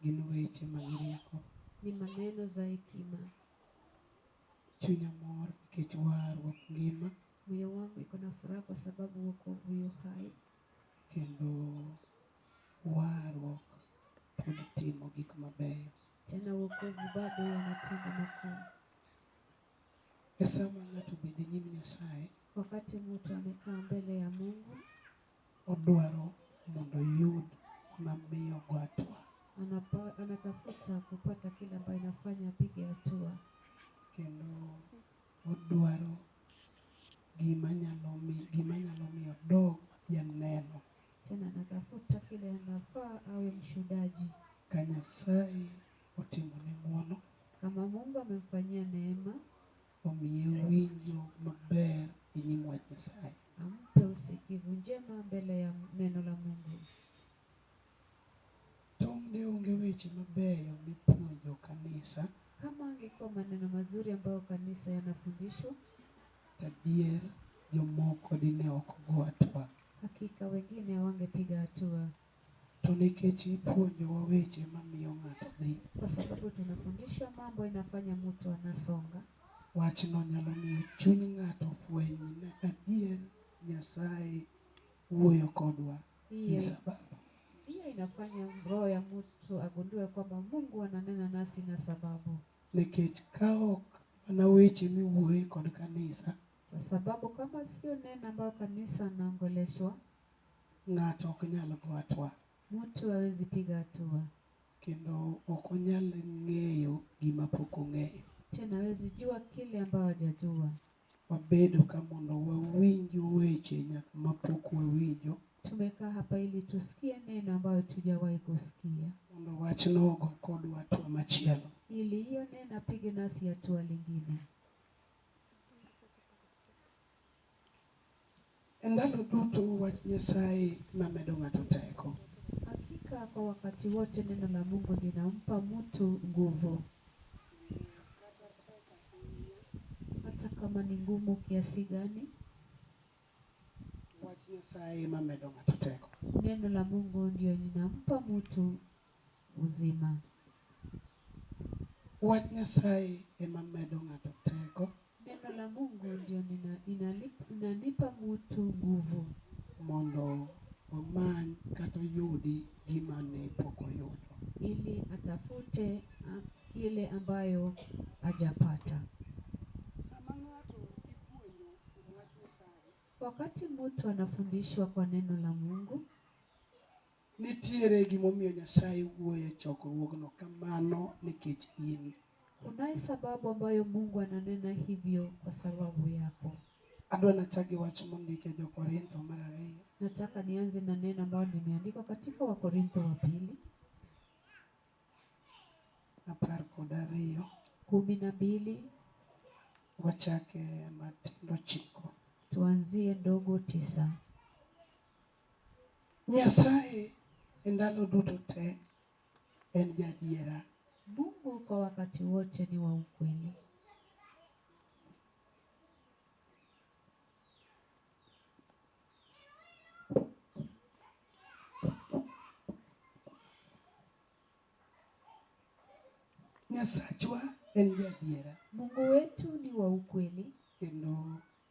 gin weche mag rieko. Ni maneno za hekima. Chunya mor nikech warruok ngima. Moyo wangu iko na furaha kwa sababu wokovu yu hai. Kendo warruok pod timo gik mabeyo. Tena wokovu bado yanatenda makuu. E sama ng'ato bedo e nyim Nyasaye. Wakati mtu amekaa mbele ya Mungu. Odwaro mondo oyud gima miyo ogo hatua. Anatafuta kupata kile ambayo inafanya apige hatua. Kendo odwaro gima nyalo miyo gima nyalo miyo odog janeno. Tena anatafuta kile anafaa awe mshuhudaji. Ka Nyasaye otimone ng'wono. Kama Mungu amemfanyia neema. Omiye winjo maber e nyim wach Nyasaye. Ampe usikivu njema mbele ya neno la Mungu. Tong' ne onge weche mabeyo mipuonjo kanisa. Kama angekuwa maneno mazuri ambayo kanisa yanafundishwa. Tadier jomoko dine ok go hatua. Hakika wengine hawangepiga hatua. To nikech ipuonjowa weche ma miyo ng'ato dhi. Kwa sababu tunafundishwa mambo inafanya mutu anasonga. Wachno nyalo miyo chuny ng'ato fweny ni adier Nyasaye wuoyo kodwa gi sababu. Hiyo inafanya roho ya mutu agundue kwamba Mungu ananena nasi na sababu. Nikech ka ok mana weche miwuoye kod kanisa. Kwa sababu kama sio neno ambayo kanisa anaongoleshwa. Ng'ato ok nyal go atwa. Mutu hawezi piga hatua. Kendo ok onyal ng'eyo gima pok ong'eyo. Tena hawezi jua kile ambao hajajua. Wabedo ka mondo wawinj weche nyaka ma pok wawinjo. Tumekaa hapa ili tusikie neno ambayo hatujawahi kusikia. Mondo wachno ogo kodwa hatua machielo. Ili hiyo neno apige nasi hatua lingine. E ndalo duto wach Nyasaye ema medo ng'ato teko. Hakika kwa wakati wote neno la Mungu linampa mtu nguvu. Ndiyo, kata tek ahinya. Hata kama ni ngumu kiasi gani. Wach Nyasaye ema medo ng'ato teko. Neno la Mungu ndio linampa mtu. Uzima. Wach Nyasaye ema medo ng'ato teko. Neno la Mungu ndio inalipa mutu nguvu. Mondo omany kata oyudi gima ne pok oyudo. Ili atafute ile ambayo hajapata. Sama ng'ato ipuonjo kuom wach Nyasaye. Wakati mutu anafundishwa kwa neno la Mungu. Nitiere gimomiyo Nyasaye wuoyo e chokruogno kamano nikech in. Kunayo sababu ambayo Mungu ananena hivyo kwa sababu yako. Adwa nachak gi wach mondik e Jo-Korintho mar ariyo. Nataka nianze na neno ambayo limeandikwa katika Wakorintho wa pili. Apar kod ariyo. Kumi na mbili. Wachake matindo chiko. Tuanzie ndogo tisa. Nyasaye e ndalo duto te en jaadiera. Mungu kwa wakati wote ni wa ukweli. Nyasachwa en jaadiera. Mungu wetu ni wa ukweli. Kendo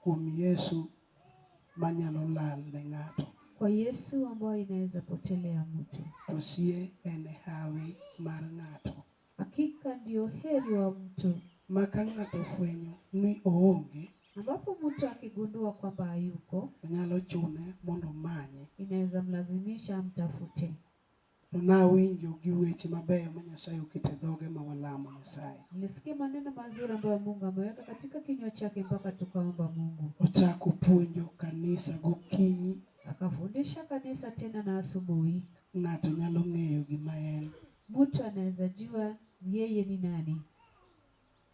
Kuom Yesu manyalo lal ne ng'ato. Kwa Yesu ambaye inaweza potelea mtu. To sie en e hawi mar ng'ato. Hakika ndio heri wa mtu. Ma ka ng'ato ofwenyo ni oonge. Ambapo mtu akigundua kwamba hayuko. Nyalo chune mondo omanye. Inaweza mlazimisha amtafute. To nawinjo gi weche mabeyo ma Nyasaye oketo e dhoge ma walamo Nyasaye. Nilisikia maneno mazuri ambayo Mungu ameweka katika kinywa chake mpaka tukaomba Mungu. Ochako puonjo kanisa gokinyi. Akafundisha kanisa tena na asubuhi. Ng'ato nyalo ng'eyo gima en. Mtu anaweza jua yeye ni nani.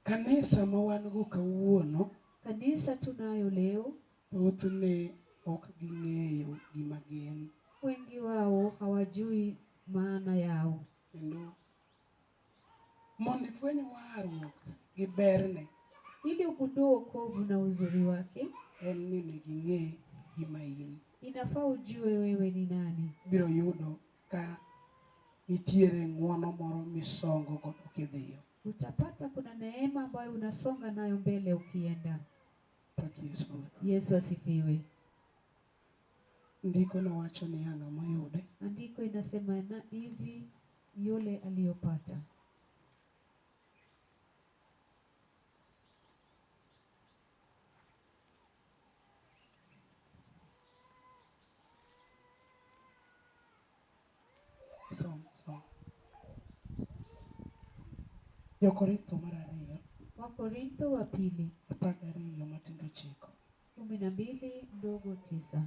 Kanisa ma wan go kawuono. Kanisa tunayo leo. Thothne ok ging'eyo gima gin. Wengi wao hawajui maana yao. Kendo mondo ifweny warruok gi berne. Ili ugundue wokovu na uzuri wake. En ni onego ing'e gima in. Inafaa ujue wewe ni nani. Ibiro yudo ka nitiere ng'wono moro misongo godo kidhiyo. Utapata kuna neema ambayo unasonga nayo mbele ukienda. Pak Yesu Ruoth. Yesu asifiwe. Ndiko nowacho niya ng'a moyude. Andiko inasema na ivi yule aliyopata. Som, som. Jo-Korintho mar ariyo. Wakorintho wa pili. Apar gariyo matindo ochiko. Kumi na mbili ndogo tisa.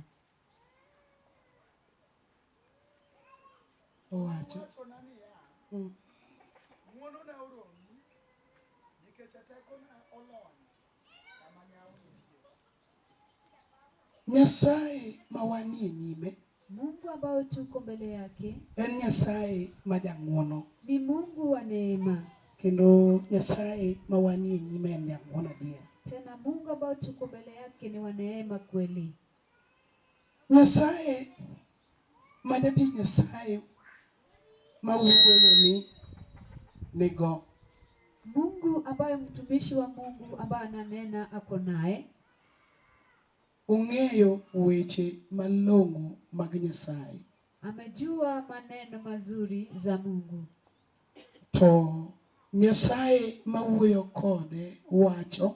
Owacho. Owachona niya, Mm. Ng'wonona oromi, nikech tekona olony. Nyasaye ma wanie nyime. Mungu ambao tuko mbele yake. En Nyasaye ma jang'wono. Ni Mungu wa neema. Kendo Nyasaye ma wanie nyime en jang'wono adier. Tena Mungu ambao tuko mbele yake ni wa neema kweli. Nyasaye ma jatich Nyasaye ma wuoyoni nigo. Mungu ambaye mtumishi wa Mungu ambaye ananena ako naye. Ong'eyo weche malong'o mag Nyasaye. Amejua maneno mazuri za Mungu. To Nyasaye ma wuoyo kode wacho.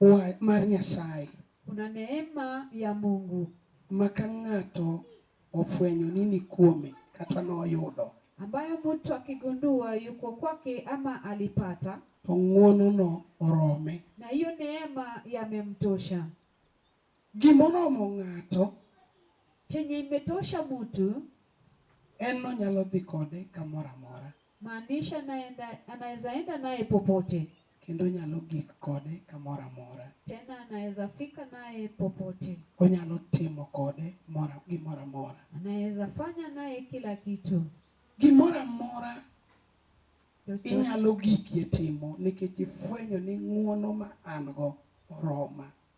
Wach mar Nyasaye. Kuna neema ya Mungu. Ma ka ng'ato ofwenyo ni ni kuome, kata noyudo. Ambayo mtu akigundua yuko kwake ama alipata. To ng'wonono orome. Na hiyo neema yamemtosha. Gima oromo ng'ato. Chenye imetosha mtu. En nonyalo dhi kode kamoro amora. Maanisha naenda, anaweza enda naye popote. Kendo onyalo gik kode kamoro amora. Tena anaweza fika naye popote. Onyalo timo kode mora, gimoro amora. Anaweza fanya naye kila kitu. Gimoro amora Chochote. inyalo gikie timo nikech ifwenyo ni ng'wono ma an-go oroma.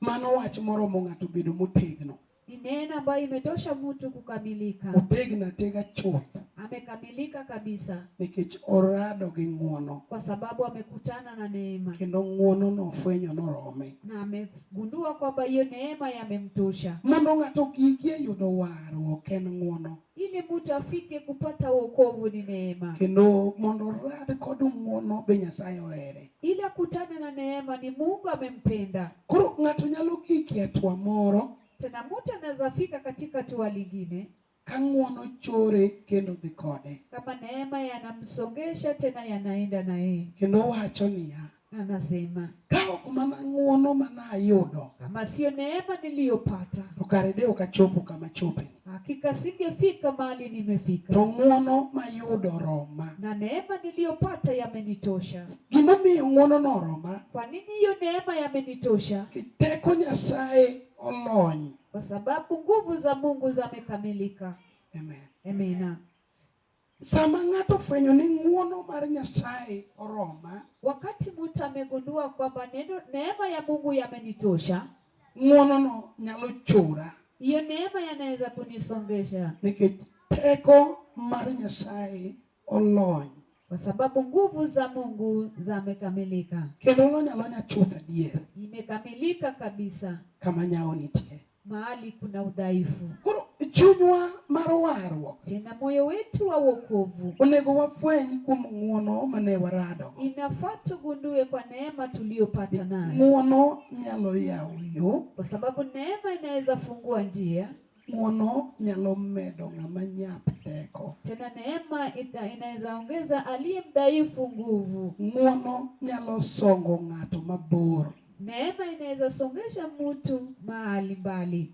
Mano wach moromo ng'ato bedo motegno. Ni neema ambayo imetosha mtu kukamilika. Otegno atega chuth. Amekamilika kabisa. Nikech orado gi ng'wono. Kwa sababu amekutana na neema. Kendo ng'wono no ofwenyo norome. Na amegundua kwamba hiyo neema yamemtosha. Mondo ng'ato gigi e yudo warruok en ng'wono. Ili mtu afike kupata wokovu ni neema. Kendo mondo orad kod ng'wono be Nyasaye ohere. Ili akutane na neema ni Mungu amempenda. Koro ng'ato nyalo giki atua moro. Tena mtu anaweza fika katika tua lingine. Ka ng'wono chore kendo dhi kode. Kama neema yanamsongesha tena yanaenda na yeye. Kendo wacho niya. Anasema ka ok mana ng'uono mana ayudo, kama sio neema niliyopata, to kare de okachopo kama chope hakika singefika mahali nimefika. To ng'uono mayudo roma, na neema niliyopata yamenitosha. Gimomiyo ng'uono no roma, kwa nini hiyo neema yamenitosha? Kiteko Nyasaye olony, kwa sababu nguvu za Mungu zamekamilika. Amen. Amina. Sama ng'ato ofwenyo ni ng'wono mar Nyasaye oroma. Wakati mtu amegundua kwamba neno neema ya Mungu yamenitosha. Ng'wonono nyalo chora. Hiyo neema yanaweza kunisongesha. Nikech teko mar Nyasaye olony. Kwa sababu nguvu za Mungu zamekamilika. Kendo olony alonya chuth adier. Imekamilika kabisa. Kama nyawo nitie. mahali kuna udhaifu. Koro chunywa mar warruok tena moyo wetu wa wokovu onego wafweny kuom ng'uono mane warado inafaa tugundue kwa neema tuliyopata nayo ng'uono nyalo yawo yo kwa sababu neema inaweza fungua njia ng'uono nyalo medo ng'ama nyap teko tena neema ita- inaweza ongeza aliye mdhaifu nguvu ng'uono nyalo songo ng'ato mabor Neema inaweza songesha mtu mahali mbali.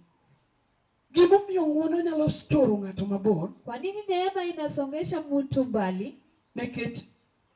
Gimomiyo ng'wono nyalo toro ng'ato mabor. Kwa nini neema inasongesha mtu mbali? Nikech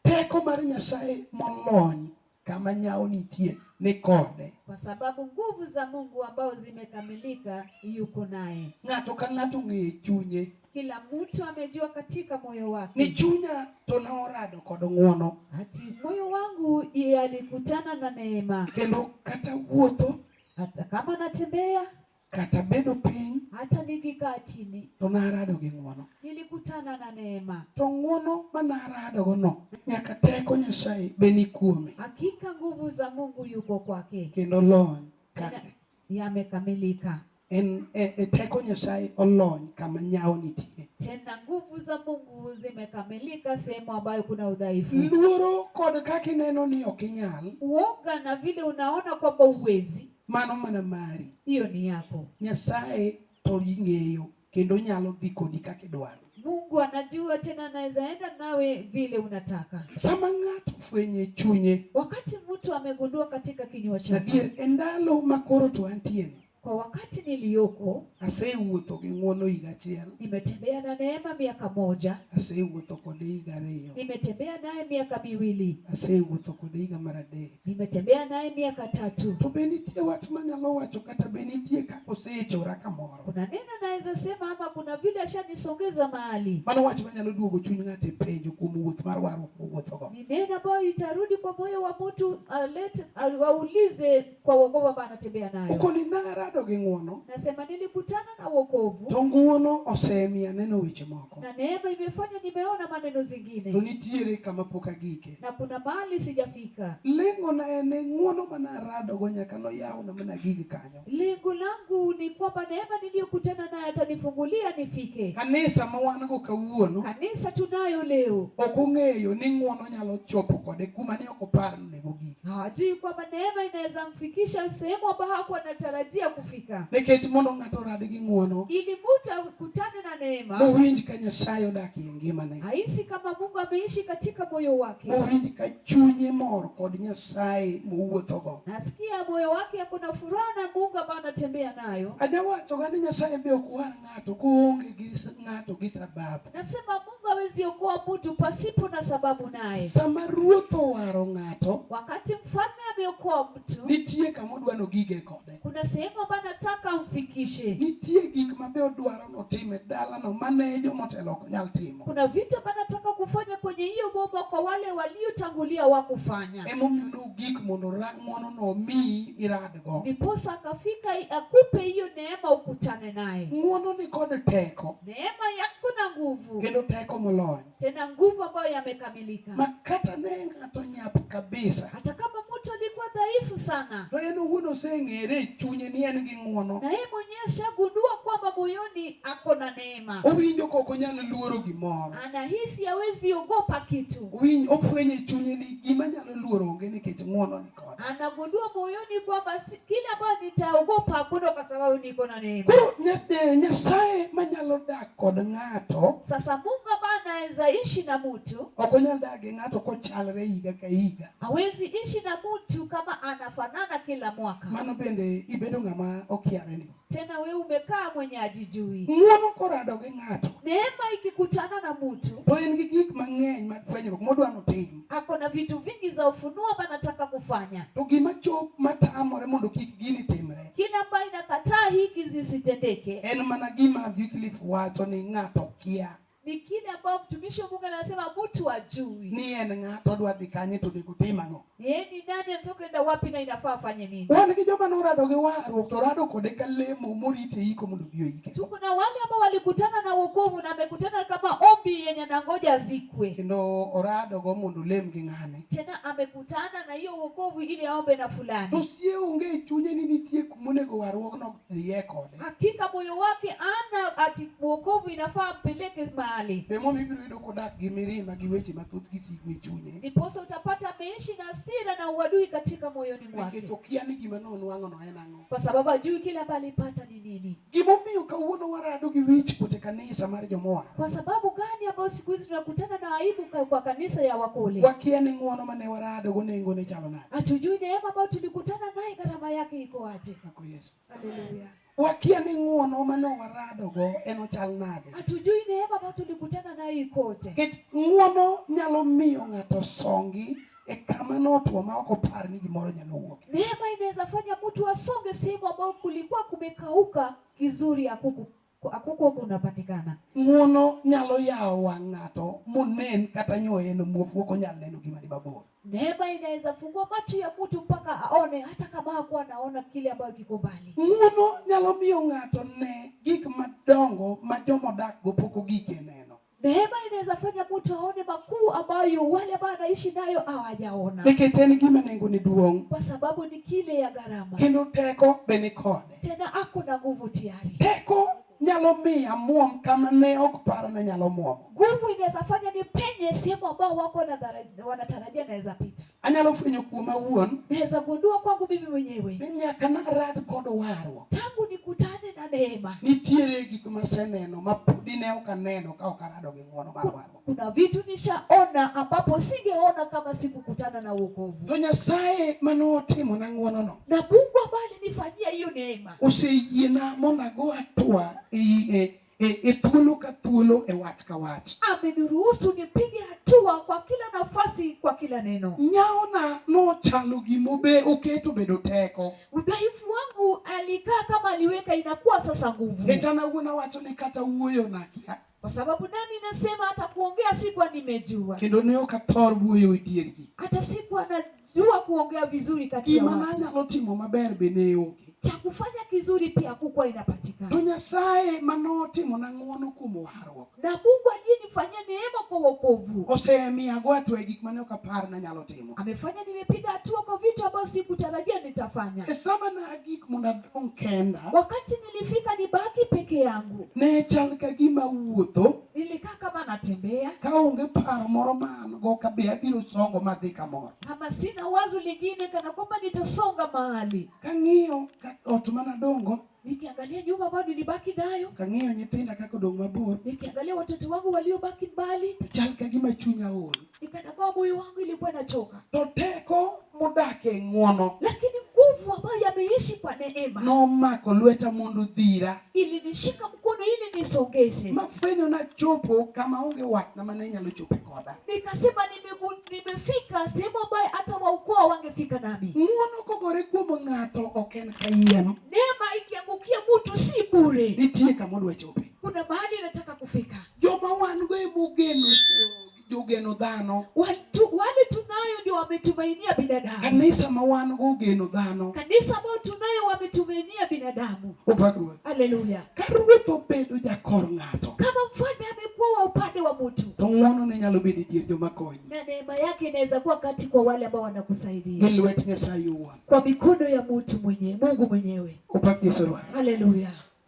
teko mar Nyasaye molony kama nyawo nitie ni kode. Kwa sababu nguvu za Mungu ambao zimekamilika yuko naye. Ng'ato ka ng'ato ng'eyo chunye. Kila mtu amejua katika moyo ni wake chunya to ne orado kod ng'wono ati moyo wangu ye alikutana na neema, kendo kata wuotho hata kama natembea, kata bedo piny hata nikikaa chini, to narado gi ng'wono nilikutana na neema. to ng'wono ma naradogono nyaka teko nyasaye be ni kuome Hakika nguvu za Mungu yuko kwake, kendo lony kare yamekamilika. En, e, e teko Nyasaye olony kama nyawo nitie. Tena nguvu za Mungu zimekamilika sehemu ambayo kuna udhaifu. Luoro kod kaka ineno ni ok inyal. Uoga na vile unaona kwamba uwezi. Mano mana mari. Hiyo ni yako. Nyasaye to ing'eyo. Kendo onyalo dhi kodi kaka idwaro. Mungu anajua tena anaweza enda nawe vile unataka. Sama ng'ato fwenyo e chunye. Wakati mtu amegundua katika kinywa chake. Adier, e ndalo ma koro to antie ni. Kwa wakati niliyoko asewuotho gi ng'wono higa achiel, nimetembea na neema miaka moja, asewuotho kode higa ariyo, nimetembea naye miaka miwili, asewuotho kode higa mar adek, nimetembea naye miaka tatu. To be nitie wach manyalo wacho kata be nitie kaka osechora kamoro? Kuna neno naweza sema ama kuna vile ashanisongeza mahali. Mano wach manyalo duogo chuny ng'ato e penjo kuom wuoth mar warruok mowuothogo. Ni neno ambayo itarudi kwa moyo wa mtu alete aulize kwa wokovu ambayo anatembea nayo. Ukoni narado gi ng'wono. Nasema nilikutana na wokovu. To ng'wono osemiya neno weche moko. Na neema imefanya nimeona maneno zingine. To nitiere kama pok agike. Na kuna mahali sijafika. Lengo na en ng'wono manaradogo nyaka noyawna mana gig kanyo. Lengo langu ni kwamba neema niliyokutana nayo atanifungulia nifike. Kanisa ma wan go kawuono. Kanisa tunayo leo. Ok ong'eyo ni ng'wono nyalo chopo kode kuma ne ok opar ni nego gik. Hajui kwamba neema inaweza mfikisha sehemu ambayo hakuwa anatarajia kufika. Nikech mondo ng'ato orad gi ng'wono. Ili mtu akutane na neema. Mowinj ka Nyasaye odak e ngimane. Ahisi kama Mungu ameishi katika moyo wake. Mowinj ka chunye mor kod Nyasaye mowuothogo. Nasikia moyo wake ako na furaha na Mungu ambayo anatembea nayo. Ajawachoga ni Nyasaye be ok war ng'ato koonge gi s- ng'ato gi sababu. Nasema Mungu hawezi okoa mtu pasipo na sababu naye. Sama ruoth owaro ng'ato, Wakati mfalme ameokoa mtu, nitie kama odwano gige kode. Kuna sehemu ambayo nataka umfikishe. Nitie gik ma be odwaro notim e dalano ma ne jomotelo ok nyal timo. Kuna vitu ambavyo nataka kufanya kwenye hiyo boma kwa wale waliotangulia wakufanya. Emomiyo nogik mondo ra- ng'wonono omiyi iradgo. Ndiposa akafika akupe hiyo neema ukutane naye. Ng'wono ni kod teko, Neema yako na nguvu kendo teko molony. tena nguvu ambayo yamekamilika makata ne ng'ato nyap kabisa hata kama mtu alikuwa dhaifu sana to en owuon oseng'ere e chunye ni en gi ng'wono na yeye mwenyewe ashagundua kwamba moyoni ako na neema owinjo kok onyal luoro gimoro anahisi hawezi ogopa kitu Owinj- ofwenyo e chunye ni gima nyalo luoro onge nikech ng'wononi Anagundua moyoni kwamba kile ambayo nitaogopa hakuna kwa sababu niko na neema. Koro eh, Nyasaye manyalo dak kod ng'ato. Sasa Mungu ambaye anaweza ishi na mtu. Ok onyal dak gi ng'ato kochalre higa ka higa. Hawezi ishi na mtu kama anafanana kila mwaka. Mano bende ibedo ng'ama okiareni. Tena we umekaa mwenye ajijui. Ng'wono korado gi ng'ato. Neema ikikutana na mtu. To en gi gik mang'eny mag fwenyruok modwa notim. Ako na vitu vingi za ufunuo ambaye anataka kufanya. To gima chop matamore mondo kik gini timre. Kile ambayo inakataa hiki zisitendeke. En mana gima Wycliffe wacho ni ng'ato kia. ni kile ambao mtumishi wa Mungu anasema mtu ajui ni en ng'a to odwa dhi kanye to onego otim ang'o. yeye ni nani, anatoka enda wapi na inafaa afanye nini. Wan gi joma norado gi warruok to rado kode ka lemo morite iko mondo obi oike. Tuko na wale ambao walikutana na wokovu na amekutana kama ombi yenye anangoja azikwe, Kendo oradogo mondo olem gi ng'ane. tena amekutana na hiyo wokovu ili aombe na fulani. To sie onge e chunye ni nitie kumonego warruokno Niye kode. Hakika moyo wake ana ati wokovu inafaa ampeleke mahali. Bemo mibiro yudo kodak gi mirima gi weche mathoth gi sigu e chunye. Ndiposa utapata ameishi na hasira na uadui katika moyoni mwake. Nikech okia ni gima nonwang'o no en ang'o. Kwa sababu ajui kile ambacho alipata ni nini. Gimomiyo kawuono warado gi wich kuot e kanisa mar jomoa. Kwa sababu gani ambayo siku hizi tunakutana na aibu kwa kanisa ya wakole. Wakia ni ng'uono mane warado go nengo ne chalo nade. Hatujui neema ambayo tulikutana naye gharama yake iko aje. Yesu. Haleluya. Wakia ni ng'uono mane waradogo en ochal nade. Hatujui neema ambayo tulikutana nayo ikoje. Nikech ng'uono nyalo miyo ng'ato songi e kama notwo ma ok opar ni gimoro nyalo wuok. Neema inaweza fanya mtu asonge sehemu ambayo kulikuwa kumekauka, kizuri hakuku Ko ako kuogo unapatikana. Ng'uono nyalo yawo wang' ng'ato monen kata nyoye no muofu ok onyal neno gima ni mabor. Neema inaweza fungua macho ya mtu mpaka aone hata kama hakuwa anaona kile ambayo kiko mbali. Ng'uono nyalo miyo ng'ato ne gik madongo ma joma odak go pok ogik e neno. Neema inaweza fanya mtu aone makuu ambayo wale ambao anaishi nayo hawajaona, nikech en gima nengone duong' kwa sababu ni kile ya gharama, kendo teko be ni kode. tena ako na nguvu tayari. Teko nyalo miyo amwom kama ne ok paro ni nyalo mwomo. Nguvu inaweza fanya ni penye sehemu ambao wako wanadhara- wanatarajia naweza pita. Anyalo fwenyo kuoma awuon. Naweza gundua kwangu mimi mwenyewe. Ni nyaka narad kod warruok. Tangu nikutane na neema. Nitiere gik maseneno ma podi ne ok aneno ka ok arado gi ng'wono mar warruok. Kuna vitu nishaona ambapo singeona kama sikukutana na wokovu. To Nyasaye mane otimo na ng'wono no. Na Mungu ambaye alinifanyia hiyo neema. Oseyiena mondo ago atua e e, e thuolo ka thuolo e wach ka wach ameniruhusu nipige hatua kwa kila nafasi kwa kila neno nyawona nochalo gimobe oketo bedo teko udhaifu wangu alikaa kama aliweka inakuwa sasa nguvu hechana wuon awacho ni kata wuoyo nakia kwa sababu nami nasema hata kuongea sikuwa nimejua kendo ne ok athor wuoyo e diergi hata sikuwa na jua kuongea vizuri kati ya gima watu nanyalo timo maber be ne onge cha kufanya kizuri pia hakukuwa inapatikana to nyasaye ma notimona ng'wono kuom warruok na mungu aliyenifanyia neema kwa wokovu osemiyago atwa e gik mane ok apar nanyalo timo amefanya nimepiga hatua kwa vitu ambayo sikutarajia nitafanya e sama nagik mondo adong' kenda wakati nilifika nibaki peke yangu ne chal ka gima wuotho Nilikaa kama natembea, kaonge paro moro ma an go kabe abiro songo madhi kamoro. kama sina wazo lingine kana kwamba nitasonga mahali. Kang'iyo ka ot manadongo, Nikiangalia nyumba ambayo nilibaki nayo, kang'iyo nyithinda kaka odong' mabor, nikiangalia watoto wangu waliobaki mbali, to chal ka gima chunya ol. ni kana kwamba moyo wangu ilikuwa inachoka, to teko modak e ng'wono lakini nguvu ambayo yameishi kwa neema nomako lweta mondo dhira ilinishika mkono ili nisongeze. mafwenyo nachopo kama onge watna mane inyalo chope koda Nikasema nimegu- nimefika sehemu ambayo hata waukoo hawangefika nami. ng'wono kogore kuom ng'ato ok en kayiem Neema ikiangukia mtu si bure, nitie kama odwa chope kuna mahali inataka kufika. joma wan go emogeno jogeno dhano Watu, wale tunayo ndio wametumainia binadamu kanisa ma wan go ogeno dhano kanisa ambayo tunayo wametumainia binadamu opak ruoth haleluya ka ruoth obedo jakor ng'ato kama mfalme amekuwa wa upande wa mtu to ng'wono ne nyalo bedo e dier joma konyi na neema yake inaweza kuwa kati kwa wale ambao wanakusaidia gi lwet nyasaye owuon kwa mikono ya mtu mwenyewe mungu mwenyewe opak yesu ruoth haleluya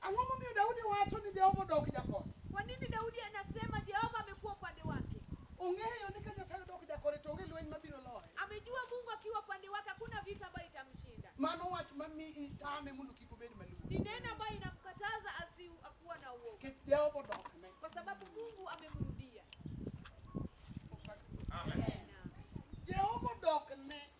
Ang'o momiyo Daudi wacho ni Jehova odok jakore? Kwa nini Daudi anasema Jehova amekuwa upande wake? Ong'eyo ni ka Nyasaye odok jakore to onge lweny mabiro loye. Amejua Mungu akiwa upande wake hakuna vita ambayo itamshinda. Mano wach mami itame mondo kik obed maluor. Ni neno ambayo inamkataza asikuwa na uoga, Nikech Jehova odokne. kwa sababu Mungu amemrudia. Amen. Jehova odokne.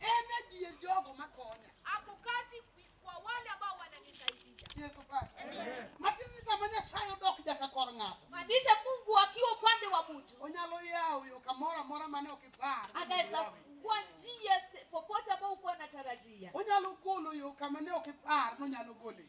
En e dier jogo makonya. Ako kati kwi- kwa wale ambao wananisaidia. Yesu Kristo. Matiende ni sama Nyasaye odok jaka kor ng'ato. Maanisha Mungu akiwa upande wa mtu Onyalo yawo yo kamoro amora mane ok ipar. anaweza kufungua njia se- popote ambao uko unatarajia. Onyalo golo yo kama ne ok ipar nonyalo gole.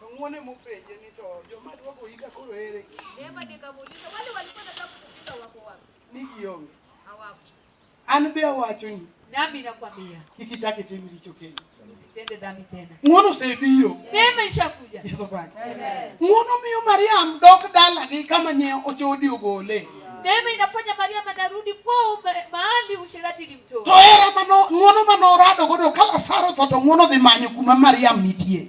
To ng'uon ema openje ni to joma duogo hika koro ere? Neema nikamuuliza wale walikuwa nataka kukupiga wako wapi? Ni gionge. Hawako. An be awachoni. Nami nakwambia. Kik ichak itim richo kendo. Usitende dhambi tena. Ng'uono osebiro. Neema ishakuja. Yesu baki. Amen. Ng'uono miyo Mariam dok dalagi kama nye ochodi ogole. Neema inafanya Mariam anarudi kwao mahali usherati ilimtoa. To era mano ng'uono mano orado godo ka Lazaro tho to ng'uono dhi manyo kuma Mariam nitie.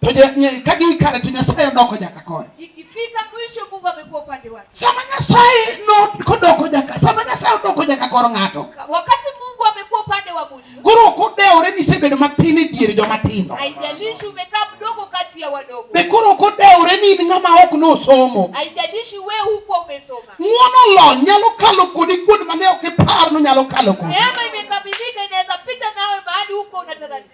To ka gin kare to Nyasaye odoko nyaka kore. Ikifika mwisho Mungu amekuwa upande wake. Sama Nyasaye no kodoko nyaka, sama Nyasaye odoko nyaka kor ng'ato. Wakati Mungu amekuwa upande wa mtu. Koro kodewore ni sebedo matin e dier joma tindo. Haijalishi umekaa mdogo kati ya wadogo. Be koro kodewore ni in ng'ama ok nosomo. Haijalishi wewe huko umesoma. Ng'wono lo nyalo kalo kodi kuond mane ok ipar no nyalo kalo kodi. Neema imekamilika inaweza pita nawe mahali huko unatarajia.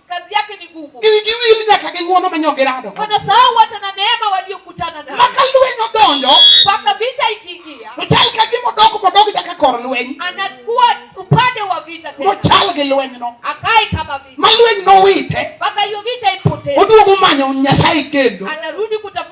Kazi yake ni ngumu. Igiwili nyaka gi ng'wono manyo girado. Wanasahau hata na neema waliokutana nayo. Maka lweny odonjo. Mpaka vita ikiingia. To chal ka gima odok modok nyaka kor lweny. Anakuwa upande wa vita tena. Mochal gi lweny no. Akai kama vita. Ma lweny nowite. Mpaka hiyo vita ipotee. Oduogo manyo Nyasaye kendo. Anarudi kutafuta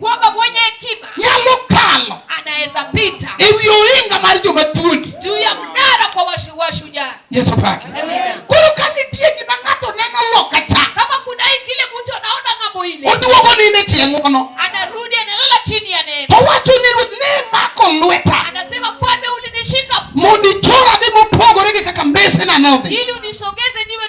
Kwamba mwenye hekima nyalo kalo, anaweza pita ewi ohinga mar joma thuondi, juu ya mnara kwa washujaa. Yesu pake. Koro ka nitie gima ng'ato neno loka cha, kama kuna kile mtu anaona ng'ambo ile, oduogo nine tie ng'ono, anarudi analala chini ya neema, owacho ni Ruoth ne mako lweta, anasema Mfalme ulinishika, mondo ichora dhi mopogore gi kaka mbesena nodhi, ili unisogeze niwe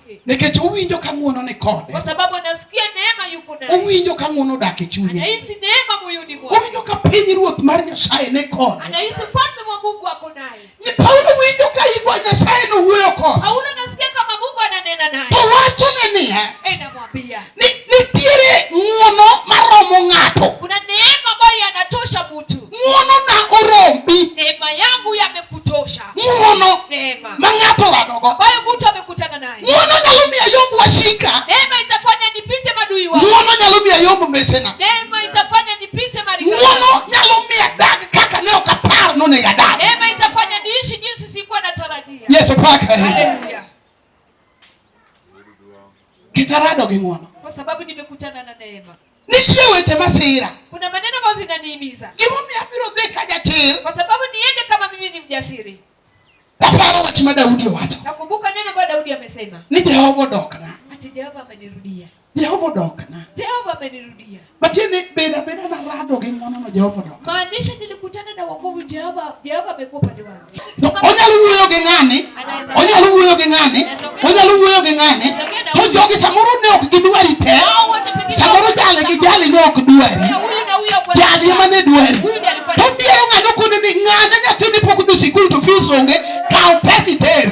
Nikech owinjo ka ng'uono ni kode. Kwa sababu anasikia neema yuko naye. Owinjo ka ng'uono odak e chunye. Anahisi neema moyoni mwake. Owinjo ka piny ruoth mar Nyasaye ni kode. Anahisi ufalme wa Mungu wako naye. Ni Paulo winjo ka igwa Nyasaye no wuoyo kode. Paulo anasikia kama Mungu ananena naye. To wacho ni niya. Eh, namwambia. Ni nitiere ng'uono maromo ng'ato. Kuna neema ambayo yanatosha mtu. Ng'uono na orombi. Neema yangu yamekutosha. Ng'uono ma ng'ato radogo. Ng'uono nyalo miyo ayomb wasika. Ng'uono nyalo miyo ayomb mesena. Ng'uono nyalo miyo adag kaka ne ok apar nonego adag. Yesu paka. Kitarado gi ng'wono. Kwa sababu nimekutana na neema. Nitie weche masira. Kuna maneno ambayo zinaniimiza. Gimomiyo abiro dhi ka jachir. Kwa sababu niende kama mimi ni mjasiri. Naparo wach ma Daudi owacho. Nakumbuka neno ambayo Daudi amesema. Ni Jehova odokna. Ati Jehova amenirudia. Jehova odokna. Jehova amenirudia. Matiende beda beda na rado gi ng'wono no Jehova odok. Maanisha nilikutana na wokovu Jehova, Jehova amekuwa upande wangu. No, onyalo wuoyo gi ng'ani. Onyalo wuoyo gi ng'ani. Onyalo wuoyo gi ng'ani. To jogi samoro ne ok gidwari te. Samoro jale gi jale ne ok dwari. Jali ema ne dwari. To biero ng'ano kone ni ng'ane nyathini pok dhi sikul to fees onge. Kaw pesa iter.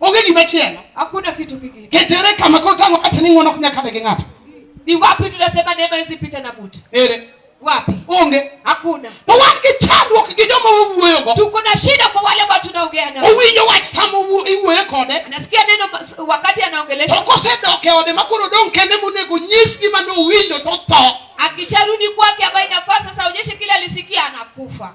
Onge gima chielo. Hakuna kitu kingine. Ketere kama kwa tango ati ni ng'wono kunya kale gi ng'ato. Ni wapi tunasema neema hizi pita na mtu? Ere. Wapi? Onge. Hakuna. To wan gi chandruok gi joma wawuoyo go. Tuko na shida kwa wale ambao tunaongea nao. Owinjo wach sama iwuoyo kode. Anasikia neno wakati anaongelesha. To kosedok e ode makoro dong' kende monego nyis gima nowinjo to tho. Akisharudi kwake ambaye inafaa sasa aonyeshe kile alisikia anakufa.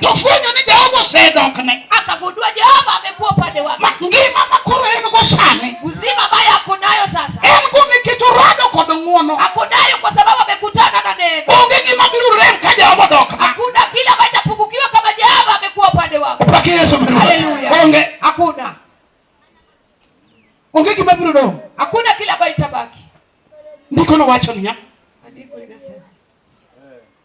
Tofwenyo ni Jehova osedokne. Akagundua Jehova amekuwa upande wake. Ma ngima ma koro en go sani. Uzima ambaye ako nayo sasa. En go nikech orado kod ng'wono. Ako nayo kwa sababu amekutana na neema. Onge gima biro rem ka Jehova odokne. Hakuna kile ambacho kitapungukiwa kama Jehova amekuwa upande wako. Upake Yesu mbele. Haleluya. Onge. Hakuna. Onge gima biro dong'. Hakuna kile ambacho kitabaki. Ndiko nowacho niya. Andiko inasema.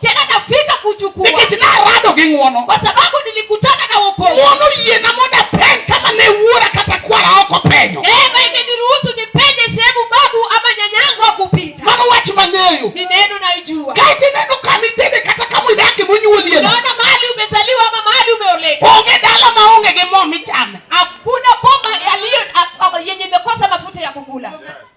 tena nafika kuchukua nikech narado gi ng'uono kwa sababu nilikutana na wokovu ng'uono yiena mondo apeny kama ne wuora kata kwara ok openyo neema imeniruhusu nipenye sehemu babu ama nyanyangu akupita mano wach mang'eyo ni neno naijua kae tineno kama itede kata kama idake monyuolie unaona mahali umezaliwa ama mahali umeoleka onge dala maonge gi mo michame hakuna boma yaliyo a- a- yenye imekosa mafuta ya kukula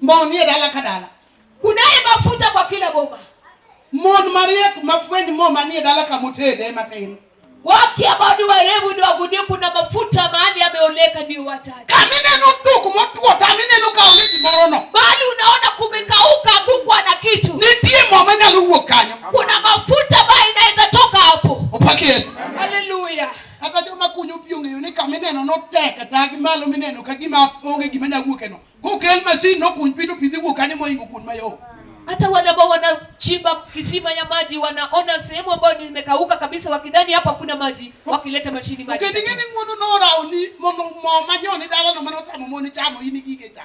Mo nie dala ka dala. Kunaye mafuta kwa kila boma. Mon mariek mafweny mo manie dala kama otede matin. Wake ambao ni werevu ni wagundue kuna mafuta mahali yameoleka ni wachache. Kama neno duku motwo tami neno ka onge gimoro no. Bali unaona kumekauka hakukuwa na kitu. Nitie mo manyalo wuok kanyo. Kuna mafuta ambayo inaweza toka hapo. Upaki Yesu. Haleluya. Kata joma kunyo pi ong'eyo ni kama ineno no tek e tagi malo mineno ka gima onge gima nyalo wuok eno. Kokel masin nokuny pi to pi dhi wuok kanyo moingo kuon mayom. Hata wale ambao wanachimba kisima ya maji wanaona sehemu ambayo nimekauka kabisa, wakidhani hapa kuna maji, wakileta mashini maji. Kendo ing'e ni ng'wono norawo ni mondo mo manyoni dalano mane otamo moni chamo in igige cha.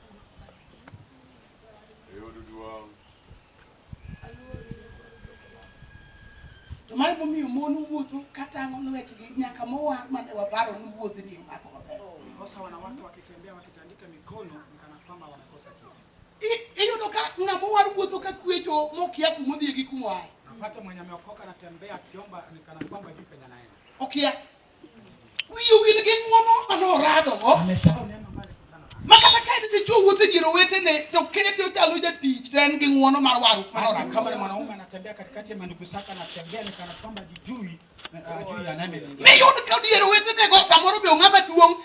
mae momiyo mon wuotho katang'o lwetgi nyaka mowa mane waparo ni wuodhi ni omako maber iyudo ka ng'ama war wuotho ka kwecho mokia kumodhie gi kumoaye okia Wiyo wil gi ng'wono mane oradogo. Ma kata ka en dichwo wuotho e dier owetene to kete ochalo jatich to en gi ng'wono mar warruok mane Hata kama ni oradogo. mwanaume anatembea katikati ya mandugu zake anatembea ni kana kwamba jijui ajui anayemlingia. Miyud ka dier owetenego samoro be ong'ama duong'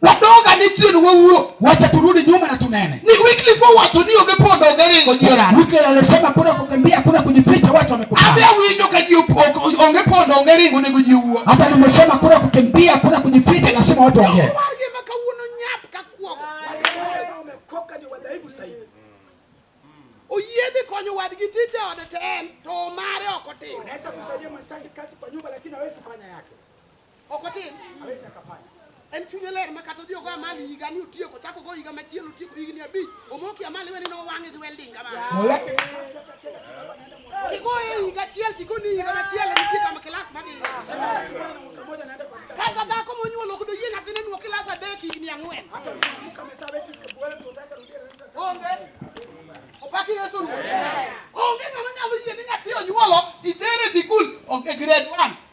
Wadoga ni chien wawuo. Wacha turudi nyuma na tunene. Ni Wycliffe owacho ni onge pondo onge ringo ji orano. Wycliffe alisema kuna kukimbia kuna kujificha watu wamekutana. Abe winjo ka ji onge pondo onge ringo nego ji wuo. Hata nimesema kuna kukimbia kuna kujificha lazima watu waongee. Oyiedhi konyo wadgi tije ode to en to mare ok otim. Unaweza kusaidia mwenzake kazi kwa nyumba lakini hawezi fanya yake. Ok otin. Hawezi akafanya. En chunye ler ma kata odhi ogo amali higa ni otieko, chak ogo higa machielo otieko higni abich, omoki amali wene nowang'e gi welding kamano. Mola. Kigoye higa achiel tikoni higa machielo nitie kama kilas madhi. Kata dhako monyuol ok doyie nyathine nuo kilas adek higni ang'wen. Onge. Opaki Yesu Ruoth. Onge ng'ama nyalo yie ni nyathi onyuolo itere sikul onge grade 1.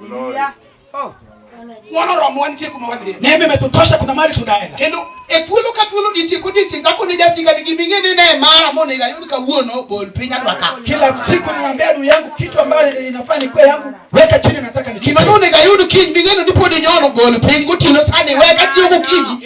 Hallelujah. Oh. Wanoromo wantie kuma wadhi. Neema imetutosha kuna mali tunaenda. Kendo e thuolo ka thuolo ditie ko ditie kako ne jasinga ni giming'e ni ne mara mone ga yud kawuono bol piny adwa ka. Kila siku niambia adui yangu kitu ambayo inafaa ni kwa yangu weka chini nataka ni. Kima none ga yud kiny ming'e ni podi nyono bol piny gotieno sani weka tiyo gokinyi.